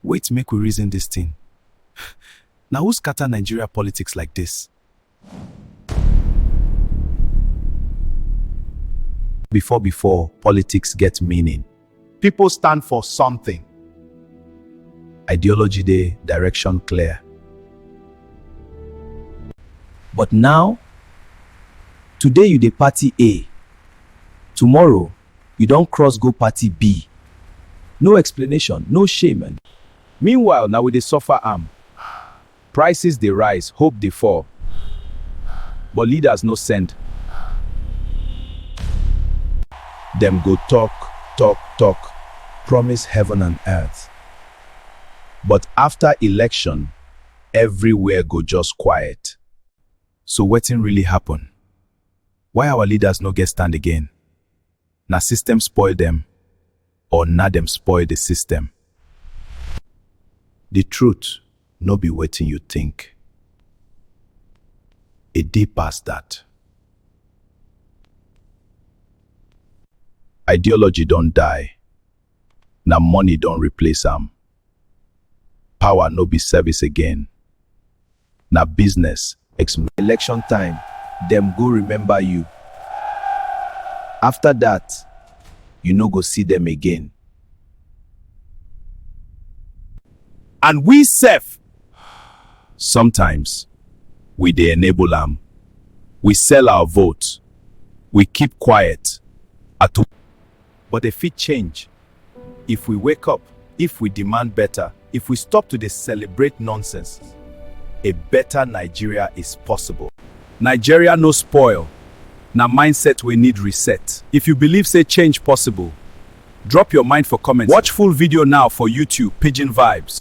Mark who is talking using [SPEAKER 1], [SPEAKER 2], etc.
[SPEAKER 1] Wait make we reason this thing. Na who scatter Nigeria politics like this? Before before, politics get meaning. People stand for something. Ideology dey, direction clear. But now, today you dey party A, tomorrow You don cross go party B. No explanation, no shame and. Meanwhile na we dey suffer am. Prices dey rise, hope dey fall. But leaders no send. Dem go talk, talk, talk, promise heaven and earth. But after election, everywhere go just quiet. So wetin really happen? Why our leaders no get stand again? Na system spoil dem or na dem spoil the system? The truth no be wetin you think. E deep pass that. Ideology don die, na money don replace am. Power no be service again, na business. Election time, dem go remember you. After that, you no go see dem again. And we sef, sometimes we dey enable am. We sell our vote, we keep quiet, at but dem fit change if we wake up, if we demand better, if we stop to dey celebrate nonsense. A better Nigeria is possible. Nigeria no spoil, na mindset wey need reset. If you believe say change possible, drop your mind for comment. Watch full video now for YouTube, Pidgin Vibes.